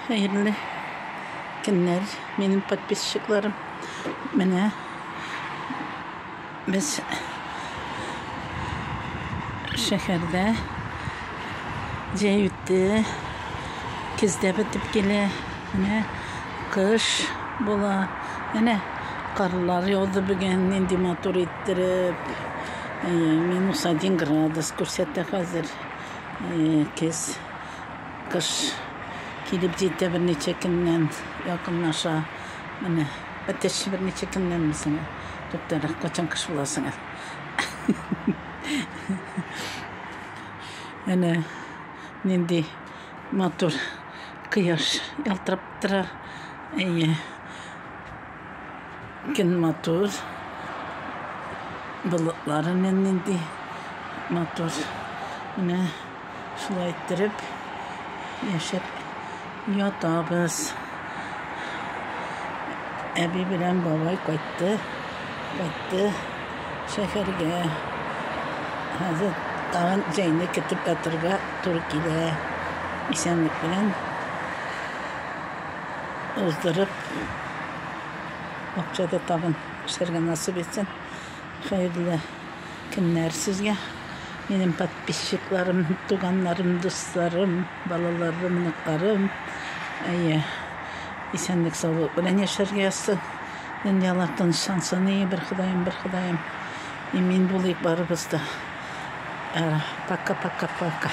Хәерле көннәр, минем подписчикларым. Менә без шәһәрдә җәй үтте, көздә бетеп килә, менә кыш була. Менә карлар яуды бүген, нинди матур иттереп. Минус один градус күрсәтә хәзер. Көз Кыш килеп җитә берничә көннән якынлаша. Менә бетеш берничә көннән безнең туктарак качан кыш була соң ул. Әнә нинди матур кояш ялтырап тора. Әйе. Көн матур. Болытлар әнә нинди матур. Менә. Шулай иттереп яшәп ятабыз. Әби белән бабай кайтты, кайтты шәһәргә. Хәзер тагын җәйне көтеп ятырга туры килә. Исәнлек белән уздырып, бакчада тагын эшләргә насыйп итсен. Хәерле көннәр сезгә минем подписчикларым, туганнарым, дусларым, балаларым, оныкларым. Әйе, исәнлек саулык белән яшәргә язсын. Дөньялар тынычлансын, и бер Ходаем, бер Ходаем. Имин булыйк барыбыз да. Пока-пока-пока.